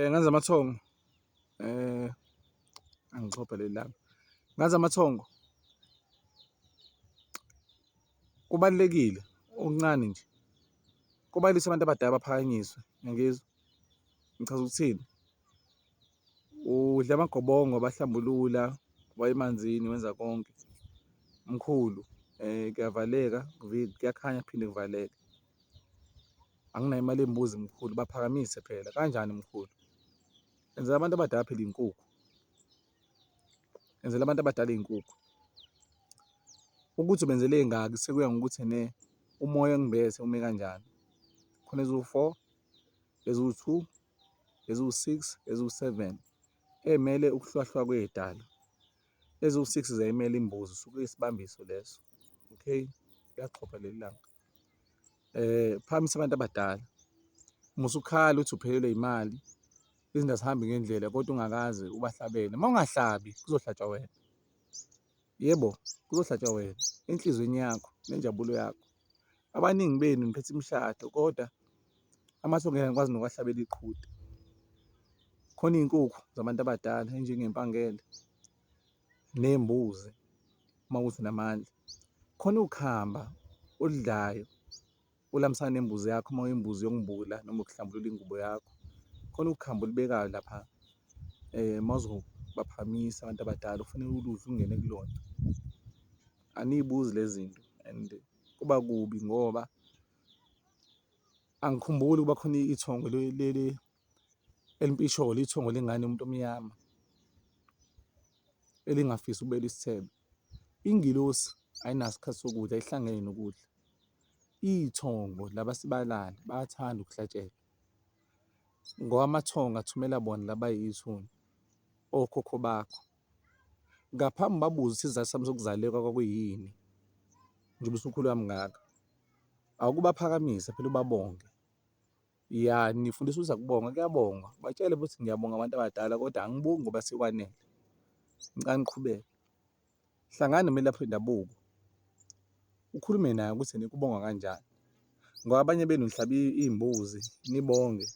Ngenza amathongo angixhophe leli lami, ngenza amathongo kubalulekile okuncane nje kubalisa abantu abadala baphakanyiswe ngiyangizwa ngichaza ukuthini? Udla amagobongo abahlambulula uba emanzini wenza konke mkhulu kuyavaleka kuyakhanya kuphinde kuvaleke. Anginayo imali yembuzi mkhulu, baphakamise phela. Kanjani mkhulu? Enzela abantu abadala phela iy'nkukhu. Enzela abantu abadala iy'nkukhu. Ukuthi ubenzele ey'ngaki sekuya ngokuthi ne umoya engibethe ume kanjani. Khona eziwu-four, eziwu-two, eziwu-six, eziwu-seven ey'mele ukuhlwahlwa kwey'dalwa. Eziwu-six ziyayimela imbuzi usuke uyisibambiso leso, okay? Liyaxhopha leli langa. Phakamisa abantu abadala, uma usukhala uthi uphelelwe yimali, izinto azihambi ngendlela kodwa ungakaze ubahlabele. Uma ungahlabi kuzohlatshwa wena, yebo kuzohlatshwa wena enhliziyweni yakho nenjabulo yakho. abaningi benu niphethe imishado kodwa amasu ngeke ngikwazi nokuwahlabela iqhude. Khona iy'nkukhu zabantu abadala enjengempangele ney'mbuzi uma kuthi unamandla. Khona ukhamba oludlayo olamisana nembuzi yakho uma uyimbuzi yokungibula noma ukuhlambulula ingubo yakho. Khona ukhamba olubekayo lapha uma uzobaphakamisa abantu abadala kufanele uludle ungene kulona. Aniy'buzi le zinto and kuba kubi ngoba angikhumbuli ukuba khona ithongo leli elimpisholo ithongo lengane umuntu omnyama elingafisi ukubela isithebe. Ingilosi ayinasikhathi sokudla ihlangene nokudla. Iy'thongo laba sibalali bayathanda ukuhlatshelwa ngoba amathongo athumela bona laba yithuna okhokho bakho. Ngaphambi ubabuze ukuthi isizathu sami sokuzaleka kwakuyini njengoba usukhule kangaka, awukubaphakamise phela ubabonge. Ya nifundisa ukuthi akubongwa, kuyabongwa, batshele futhi ngiyabonga abantu abadala kodwa angibongi ngoba sekwanele, ngicela niqhubeke. Hlangana nomelaphi wendabuko, ukhulume naye ukuthi nikubonga kanjani ngoba abanye benu nihlaba iy'mbuzi nibonge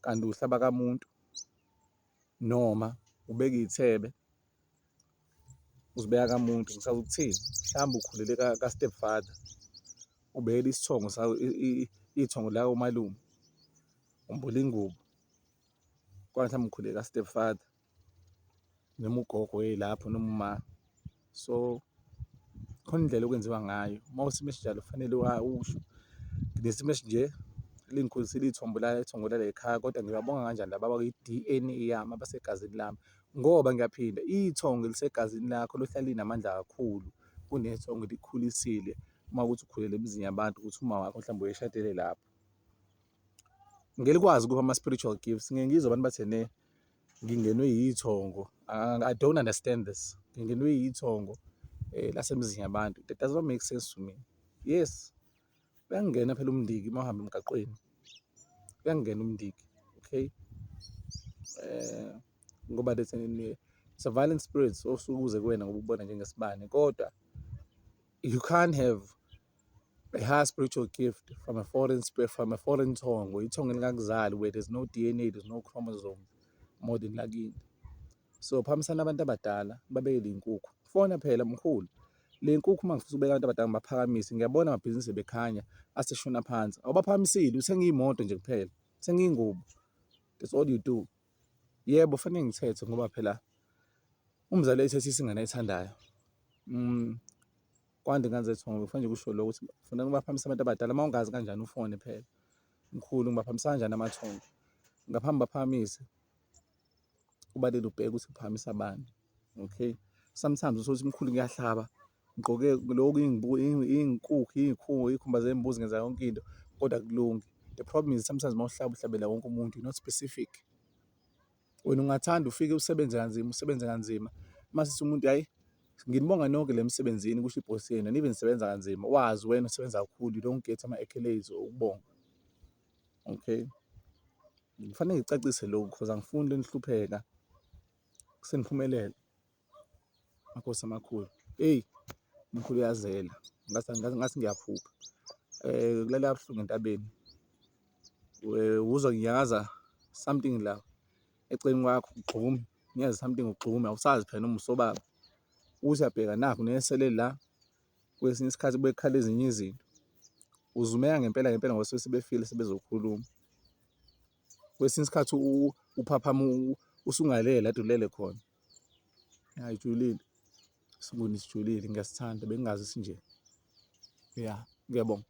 kanti uhlaba kamuntu. noma ubeke iy'thebe uzibeka kamuntu ngisazi ukuthini mhlawumbe ukhulele ka-step father ubekela isithongo sawo ithongo lawo umalume umbula ingubo kwangithi amkhuleka stepfather noma ugogo yelapho noma umama. so khona indlela okwenziwa ngayo uma usimo esinjalo kufanele usho ngesimo esinje lingikhulise lithombo la ithongo lale khaya kodwa ngiyabonga kanjani laba bakwi-D_N_A yami abasegazini lami ngoba ngiyaphinda ithongo elisegazini lakho lohlala linamandla kakhulu kunethongo elikhulisile uma kuwukuthi ukhulele emizini yabantu ukuthi umawakho mhlawumbe uyishadele lapho. Ngeke likwazi ukuba ama-spiritual gifts, ngike ngizwe abantu bathi ene ngingenwe yithongo. I don't understand this, ngingenwe yithongo lasemzini yabantu, that does not make sense to me. Yes, uyangena phela umndiki uma uhamba emgaqweni, uyangena umndiki, okay? Ngoba that's it's a violent spirit osuke uze kuwena ngoba ukubona njengesibani kodwa you can't have. a high spiritual gift from a foreign spirit, from a foreign tongue, or tongue in Gagzal, where there's no DNA, there's no chromosome, more than lagini. So phambisana abantu abadala babeke le nkukhu. Fona phela mkhulu. Le nkukhu uma ngifisa ukubeka abantu abadala ngibaphakamise, ngiyabona amabhizinisi bekhanya aseshona phansi. Awubaphakamisile, uthenga imoto nje kuphela. Uthenga ingubo. That's all you do. Yebo, fanele ngithethe ngoba phela umzali ethethe isingane ayithandayo. Mm. kwande ingane zethu ngoba kufanele kusho lokho ukuthi ufuna ngibaphakamisa abantu abadala uma ungazi kanjani ufone phela mkhulu ngibaphakamisa kanjani amathongo ngaphambi baphakamise kubalele ubheke ukuthi uphakamisa abantu okay sometimes usuthi mkhulu ngiyahlaba ngigqoke lokhu iy'nkukhu iy'khubo iy'khumba zembuzi ngenza yonke into kodwa kulungi the problem is sometimes uma uhlaba uhlabela wonke umuntu not specific. Wena ungathanda ufike usebenze kanzima, usebenze kanzima, mase sithi umuntu hhayi nginibonga nonke le msebenzini kusho ibhosi yenu nibe nisebenza kanzima, wazi wena usebenza kakhulu, you don't get ama-accolades or ukubonga. Okay, ngifanele ngicacise lokhu cause angifuni lenihlupheka seniphumelele. Makhosi amakhulu eyi umkhulu uyazela ngathi ngiyaphupha kulala kabuhlungu entabeni uzwa nginyakaza something la eceleni kwakho ugxume ngiyazi something ugxume awusazi phela noma usobaba uthi uyabheka nakho nesele la kwesinye isikhathi bekhala ezinye izinto uzumeka ngempela ngempela ngoba sebefile sebezokhuluma kwesinye isikhathi uphaphama usungalele adulele khona. Ngayijulile sibuni sijulile ngiyasithanda bengazi sinje ya ngiyabonga.